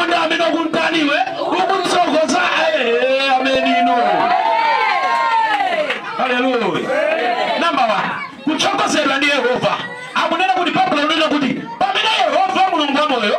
Ndi amene ukumtani iwe ukumtsogoza iye ameni. Haleluya. Namba 1. Kutsogozedwa ndi Yehova. Akunena kuti Baibulo likunena kuti pamene Yehova Mulungu wa moyo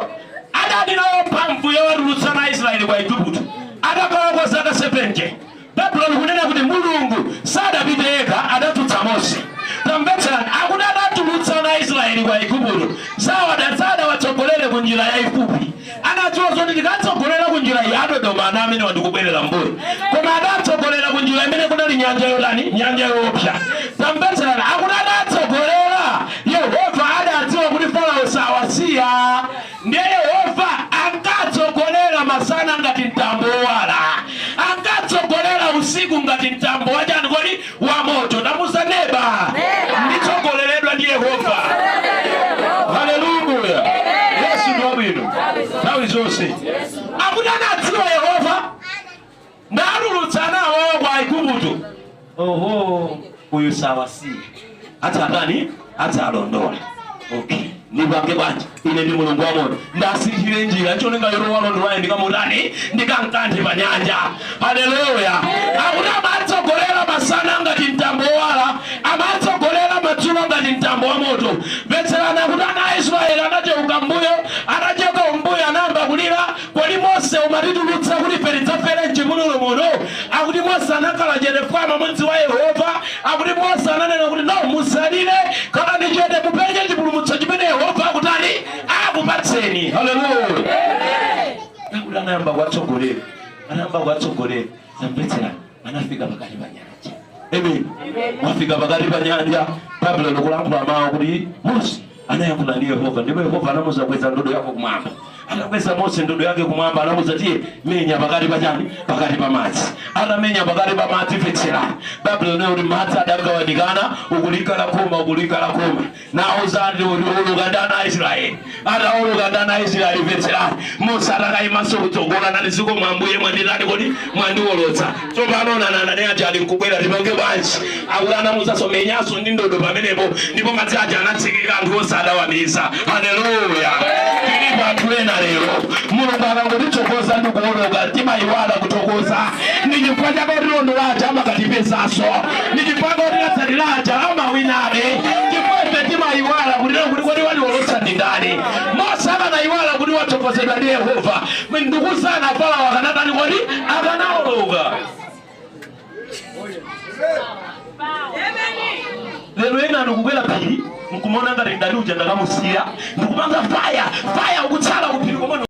adali nawo mphamvu yowatulutsa ana a Israeli kwa Aigupto. Adakhalako zaka 70. Baibulo likunena kuti Mulungu sadapite yekha, adadzutsa Mose. Tamvetserani, akuti adatulutsa ana a Israeli kwa Aigupto, sawada sadawatsogolere ku njira yaifupi. Anadziwa zoti ndikatsogolera ku njira iyi adzaopa ana amenewa ndikubwerera mbuyo, koma adatsogolera ku njira imene kunali nyanja yotani? Nyanja yofiira. Tamvetserani, akuti adatsogolera, Yehova adadziwa kuti Farao sawasiya. Ndiye Yehova ankatsogolera masana ngati mtambo wowala, ankatsogolera usiku ngati mtambo wa chani kodi? Wa moto. Tamuuza neba, nditsogoleredwa ndi Yehova. Haleluya, Yesu ndi wabwino nthawi zonse. Akuti anadziwa Yehova ndatulutsa ana awowo kwa Aigupto. Oho, uyu sawasiya awatsata awalondola okay ndipange bwanji ine ndi mulungu wamoyo ndiwasinthire njira ncholinga yoti walondolaye ndikamutani ndikamkanthe pa nyanja haleluya akuti amatsogolera masana ngati mtambo wowala amatsogolera madzulo ngati mtambo wa moto mvetserani akuti ana a israeli anacheuka mbuyo atacheuka mbuyo anayamba kulira Kodi Mose unatitulutsa kuti ife tidzafere m'chipululu muno? Akuti Mose anakhala chete fwa amamudziwa Yehova. Akuti Mose ananena kuti, No, musalire, khalani chete, mupenye chipulumutso chimene Yehova akutani akupatseni. Haleluya! Akuti anayamba kuwatsogolera, anayamba kuwatsogolera. Tamvetserani, anafika pakati pa nyanja amen atafika pakati pa nyanja baibulo likulankhula mawu kuti mose anayankhula ndi yehova ndipo yehova anamuuza kweza ndodo yako kumwamba anakweza mose ndodo yake kumwamba anamuuza tiye menya pakati pa chani pakati pa madzi anamenya pakati pa madzi mvetserani baibulo linati madzi adagawanikana uku likhala khoma uku likhala khoma nauza anthu atawoloka ndi ana a israeli atawoloka ndi ana a israeli mvetserani mose sadakaimenso kutsogolo n'kunena zikomo ambuye mwanditani kodi mwandiwolotsa tsopano nawonanso aja ali nkubwera tipange bwanji akuti anamuuzanso menyanso ndi ndodo pamenepo ndipo madzi aja anatsekeka anthu onse adawamiza haleluya tilipo anthu ena lero mulungu akangotitsogoza ndi kuwoloka timayiwala kuthokoza ndi chifukwa chake otilondola aja amakatipezanso ndi chifukwa otitsatira aja amawinabe ndipo ife timayiwala kunena kuti kodi watiwolotsa ndi ndani mose akanayiwala kuti watsogozedwa ndi yehova ndikuzana pomwepo akanatani kodi akanawoloka lero ena ndikukwera phiri nkumona ngati ndani uja ndakamusiya ndikupanga faya faya ukutsala kuphiri komwe